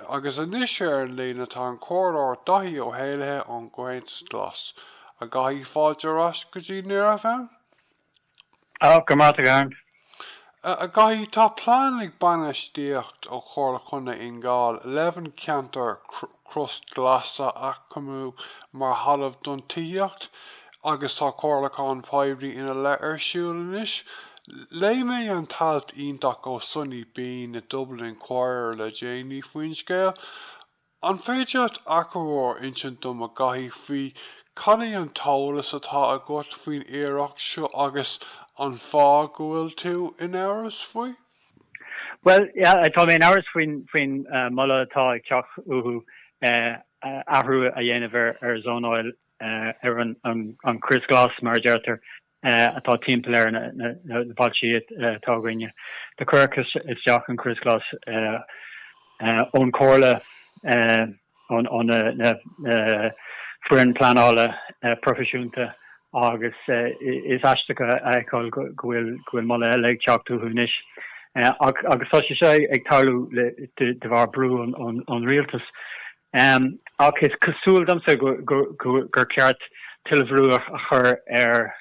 Agus anois ar an líne tá an Comhairleoir Daithí Ó hÉalaithe ón gComhaontas Glas. A Dhaithí, fáilte ar ais go dtí Near FM. A, go maith agat Karen. A Dhaithí, tá plean ag bainistíocht ó Chomhairle Chontae Fhine Gall leis an ceantar crios glas a aicmiú mar thalamh don tithíocht. agus tá comhairliúchán poiblí ina leith ar siúl anois. Léigh mé an t-alt iontach ó Sunni Bean i Dublin Inquirer le déanaí faoin scéal. An féidir leat achoimre a insint dom a Dhaithí faoi cad é an t-eolas atá agat faoin iarracht seo agus an fáth go bhfuil tú in amhras faoi? Bhuel, tá mé in amhras faoi faoin moladh atá ag teacht uathu athrú a dhéanamh ar zónáil ar an chrios ghlas, mar a deirtear, atá timpeall ar na bailtí atá againne. Do cuireadh isteach an crios ghlas ón Chomhairle, ón fhoireann pleanála proifisiúnta agus is aisteach a fheiceáil go bhfuil moladh eile ag teacht uathu anois. Agus tá sé seo ag tarlú de bharr brú ón rialtas. Ehm, ach is cosúil domsa gur ceart tuilleadh brú a chur ar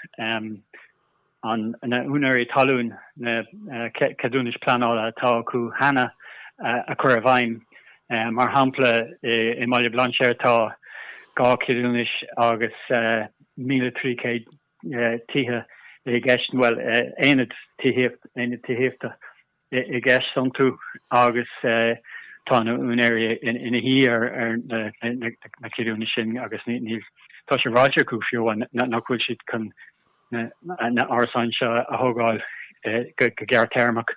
na húinéirí talún na ceadúnais pleanála atá acu cheana a chur i bhfeidhm. Mar shampla, i mBaile Bhlainséir tá dhá cheadúnais agus 1,300 tithe i gceist, bhuel, aonad aonad tithíochta. i gceist iontu agus tá na úinéirí ina shuí ar na ceadúnais sin agus níl tá sé ráite acu fiú amháin nach bhfuil siad chun na árasáin seo a thógáil go gearrtéarmach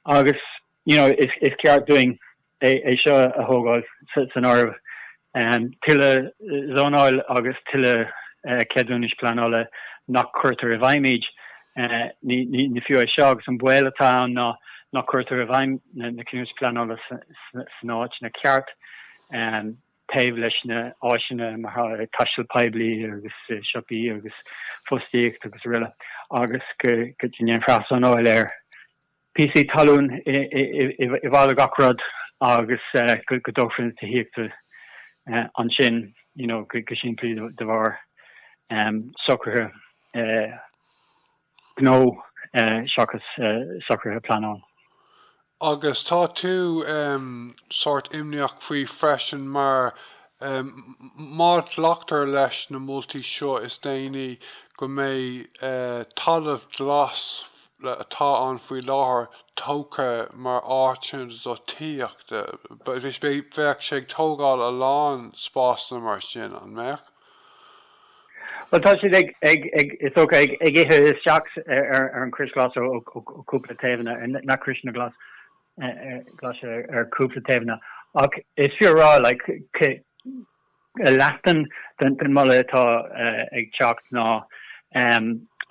agus you know is ceart dúinn é seo a thógáil san áireamh tuilleadh zónáil agus tuilleadh ceadúnais pleanála nach cuirtear i bhfeidhm iad. Ní fiú é seo agus an baol atá ann ná nach cuirtear i bhfeidhm na ceadúnais pleanála san áiteanna ceart taobh leis na áiseanna mar taisteal poiblí agus siopaí agus fostaíocht agus aroile agus go ndéanfar ath-zónáil ar píosaí talún i bhfad ó gach rud agus go dtógfar an tithíocht ansin you know go simplí de bharr socruithe gnó seachas socruithe pleanála. Agus tá tú em sórt imníoch faoi freisin mar em má ghlactar leis na moltaí seo is déanaí go mbeidh eh talamh glas glas atá ann faoi láthair tógtha mar áit ann do tithíocht. Bheadh sé ag tógáil a lán spásanna mar sin, an mbeadh? Bhuel, tá siad ag, is dócha, ag ithe isteach ar an chrios ghlas ó chúpla taobhanna, na criosanna glaise ar chúpla taobhanna. Ach is fiú a rá, like, leath den mholadh atá ag teacht ná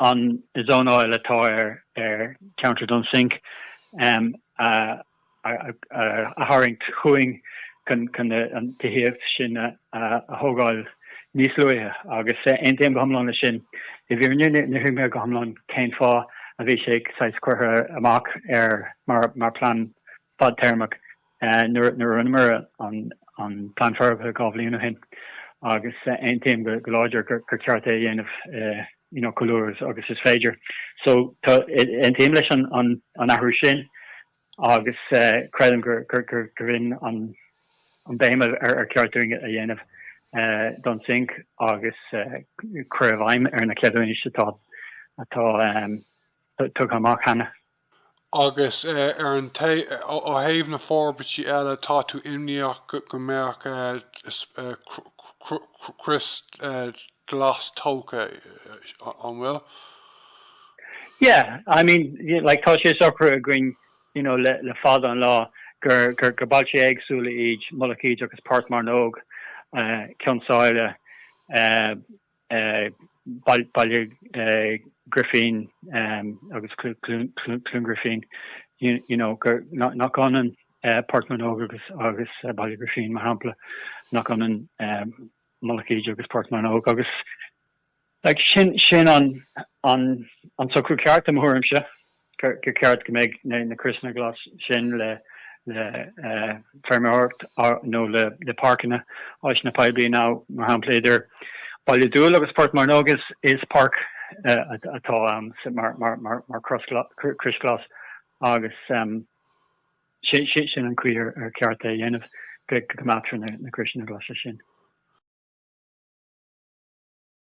an zónáil atá ar cheantar Dhún Sinche a tharraingt chugainn chun an tithíocht sin a thógáil níos luaithe agus aontaím go hiomlán leis sin. I bhfírinne, ní thuigim go hiomlán cén fáth a bhí sé saghas curtha amach mar plean fadtéarmach nuair a rinneamar an Plean Forbartha dhá bhliain ó shin agus aontaím go láidir gur ceart é a dhéanamh chomh luath agus is féidir. So tá aontaím leis an athrú sin agus creidim gurb in an bhéim ar cheart dúinn a dhéanamh Dún Sinche agus cur i bhfeidhm ar na ceadúnais atá tugtha amach cheana. Agus ar an t, ó thaobh na forbairtí eile, tá tú imníoch go mbeadh crios glas tógtha, an bhfuil? Yeah, I mean, like, tá sé socraithe againn, you know, le, le fada an lá, gur, gur, gur bailte éagsúla iad Mullach Íde agus Port Mearnóg, Cionn tSáile, eh, Baile Grifín agus Cluain Grifín, you know, gur, nach ionann Port Mearnóg agus Baile Grifín, mar shampla, nach ionann Mullach Íde agus Port Mearnóg, agus, like, sin an socrú ceart, i mo thuairimse. gur cheart go mbeadh na criosanna glas sin le feirmeoireacht nó le páirceanna, áiseanna poiblí ná, mar shampla, idir Baile Dúill agus Port Mearnóg is páirc atá ann mar chrios glas agus sin an chaoi ar cheart é a dhéanamh, go gcoimeádtar na criosanna glasa sin.